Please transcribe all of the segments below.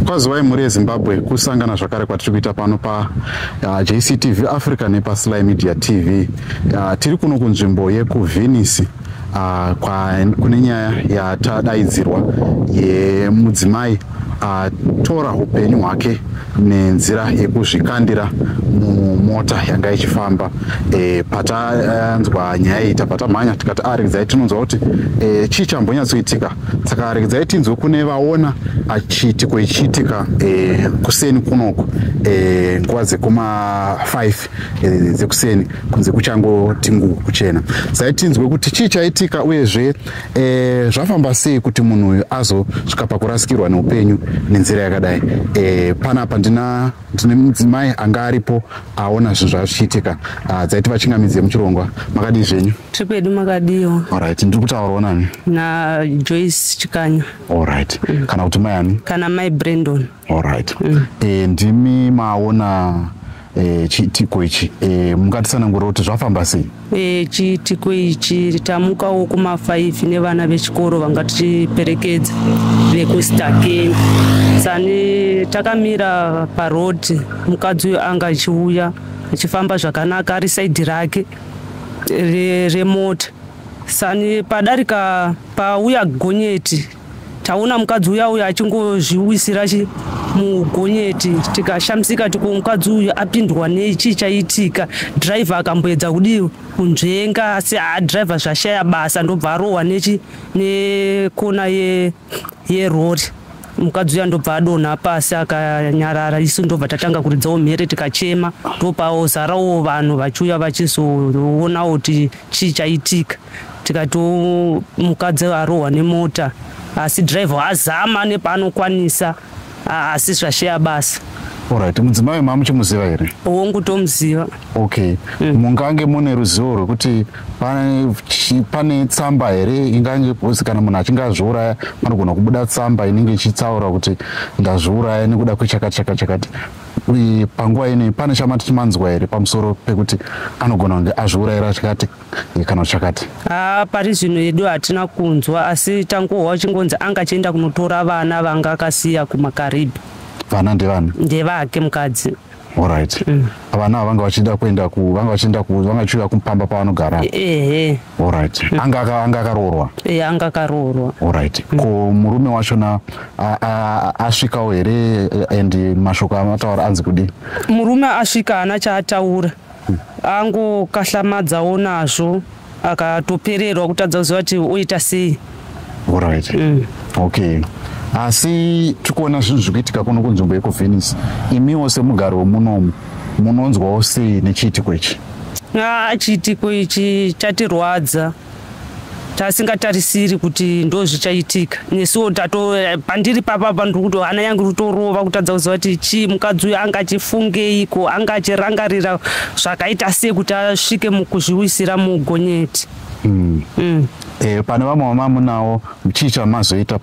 kwazivai mhuri yezimbabwe kusangana zvakare kwatiri kuita pano pajctv uh, africa nepasly media tv uh, tiri kuno kunzvimbo yekuvhinisi uh, kune nyaya yatadaidzirwa yemudzimai atora uh, upenyu hwake nenzira yekuzvikandira mumota yanga ichifamba e, patanzwa nyaya iyi tabva tamhanya tikati aridzai ah, tinonzwa kuti e, chii chambonyatsoitika saka regedzai tinzwe kune vaona achiitiko ichiitika eh, kuseni kunoku eh, nguva dzekuma5 eh, dzekuseni kunze kuchangoti ngu kuchena sai tinzwe kuti chii chaitika uyezve zvafamba sei kuti munhu uyu azosvika pakurasikirwa neupenyu nenzira yakadai panapa ndina ndine mudzimai anga aripo aona zvinhu zvazvichiitika ah, dzaiti vachingamidzi yemuchirongwa makadii zvenyu Trip yedu makadiwa. Alright, ndiri kutaurawo nani? Na Joyce Chikanya. Alright. Mm. Kana kuti mai ani? Kana mai Brandon. Alright. Mm. Eh, ndimi maona eh, chiitiko ichi eh, mungatisanangura kuti zvafamba sei eh, chiitiko ichi tamukawo kumafaifi nevana vechikoro vanga tichiperekedza vekustakeni sani takamira parodi mukadzi uyo anga achiuya achifamba zvakanaka ari saidi rake remota re sani padarika pauya gonyeti taona mukadzi uya uya achingozviwisira mugonyeti tikashamisika tiko mukadzi uyu apindwa nei chii chaitika dhiraivha akamboedza kudii kunzvenga asi adhiraivha zvashaya basa ndobva arohwa nechi nekona ye yerori mukadzi uya ndobva adonha pasi akanyarara isu ndobva tatanga kuridzawo mhere tikachema ndopawo zarawo vanhu vachiuya vachizoonawo kuti chii chaitika tikati mukadzi arohwa nemota asi driver azama nepaanokwanisa Ah, asi zvasheya basa Alright, mudzimai mamuchimuziva here? hongu tomuziva Okay. Mungange mune ruzivo rwekuti pane chi- pane tsamba here ingange posi kana munhu achinge azviuraya panogona kubuda tsamba inenge ichitsaura kuti ndazviuraya nekuda kwechakati chakati chakati. Uye panguva ino pane chamati chimanzwa here pamusoro pekuti anogona kunge azviurayira chakati kana uchakati ah, pari zvino yedu hatina kunzwa asi tangohwa chingonzi anga achienda kunotora vana vanga akasiya kumakaribhi vana ndevani ndevake mukadzi orit mm. vana ava vanga vachida kuenda vanga vachienda vanga vachiuya kumupamba pavanogara ehe orit mm. anga anga akaroorwa e anga akaroorwa orit mm. ko murume wachona asvikawo here and mashoko amataura anzi kudii murume asvika haana chaataura angu kahlamadzawo nazvo akatopererwa kutadza kuziva kuti oita sei right. mm. okay asi tiri kuona zvinhu zviri kuitika kuno kunzvimbo yekuvenice imiwo semugari wemunomu munonzwawo sei nechiitiko ichi ah, chiitiko ichi chatirwadza tasingatarisiri kuti ndo zvichaitika nesuwo tato pandiri papapa ndiri kuti hana yangu rutorova kutadza kuziva kuti chii mukadzi uyo anga achifungeiko anga achirangarira zvakaita sei kuti asvike mukuzviwisira mugonyeti mm. mm. e, pane vamwe vamamunawo chii chamazoita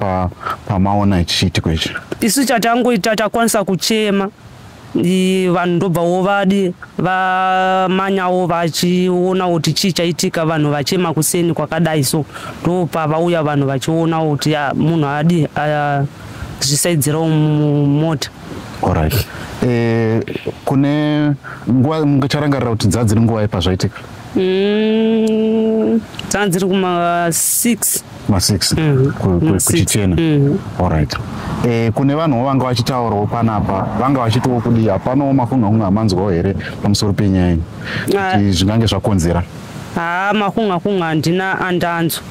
pamaona pa chichiitiko ichi isu chatangoita takwanisa kuchema vanhu ndobvawo vadi vamanyawo vachionawo kuti chii chaitika vanhu vachema kuseni kwakadai so ndopa vauya vanhu vachionawo kuti munhu adi zvisaidzirawo mumota orit eh, kune nguva mungacharangarira kuti dzaa dziri nguva yepazvaitika mm, dzaa dziri kuma six masix mm. kuchichena mm. allright e, kune vanhuwo vanga vachitaurawo panapa vanga vachitiwo kudii hapanawo makunhu akunge amanzwawo here pamusoro penyaya iyi kuti ah. zvingange zvakonzera haa makunga kunga handina andanzwa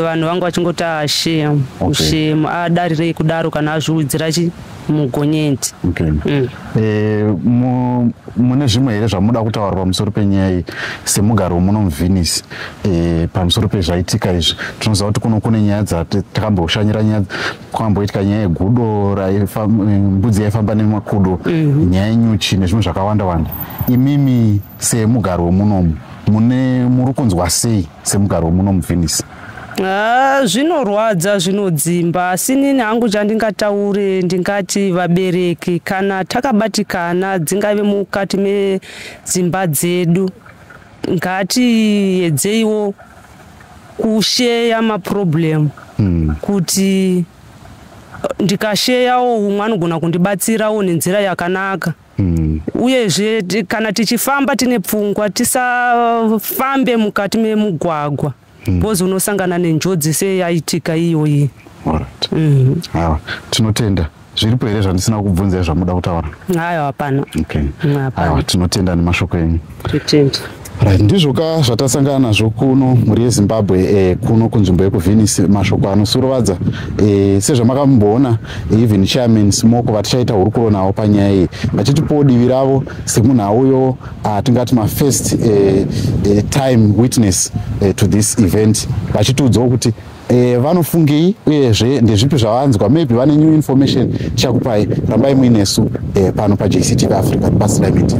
vanhu vanga vachingoti ashemu shemu adarirei kudaro kana azviudzira chi mugonyeti okay. mm. e, mu, mune zvimwe here zvamunoda kutaura pamusoro penyaya iyi semugari wemuno muvhenisi e, eh, pamusoro pezvaitika izvi tinoziva kuti kuno kune nyaya dzatakamboshanyira nyaya kwakamboitika nyaya yegudo mbudzi yaifamba nemakudo mm -hmm. nyaya yenyuchi nezvimwe zvakawanda wanda imimi semugari wemunomu mune muri kunzwa sei semugari wemuno muvenice Ah, zvinorwadza zvinodzimba asi nini hangu chandingataure ndingati vabereki kana takabatikana dzingave mukati medzimba dzedu ngatiedzeiwo kusheya maproblem hmm. kuti ndikasheyawo umwe anogona kundibatsirawo nenzira yakanaka Mm. uyezve kana tichifamba tine pfungwa tisafambe mukati memugwagwa mm. bcause mm. unosangana nenjodzi seyaitika iyoyi right. mm. awa tinotenda zviripo here zvandisina kubvunza zvamuda kutaura ayo hapana okay. awa tinotenda nemashoko enyu Right, ndizvo ka zvatasangana nazvo kuno mhuri yezimbabwe eh, kuno kunzvimbo yekuvenisi mashoko anosurovadza eh, sezvamakamboona eh, even chairman smoko vatichaita hurukuro navo panyaya iyi vachitipowo divi ravo semunhu auyo ah, tingati mafirst eh, eh, time witness eh, to this event vachitiudzawo kuti e, vanofungei uyezve ndezvipi zvavanzwa maybe vane new information tichakupai rambai muinesu e, pano pajctv africa rubasirai media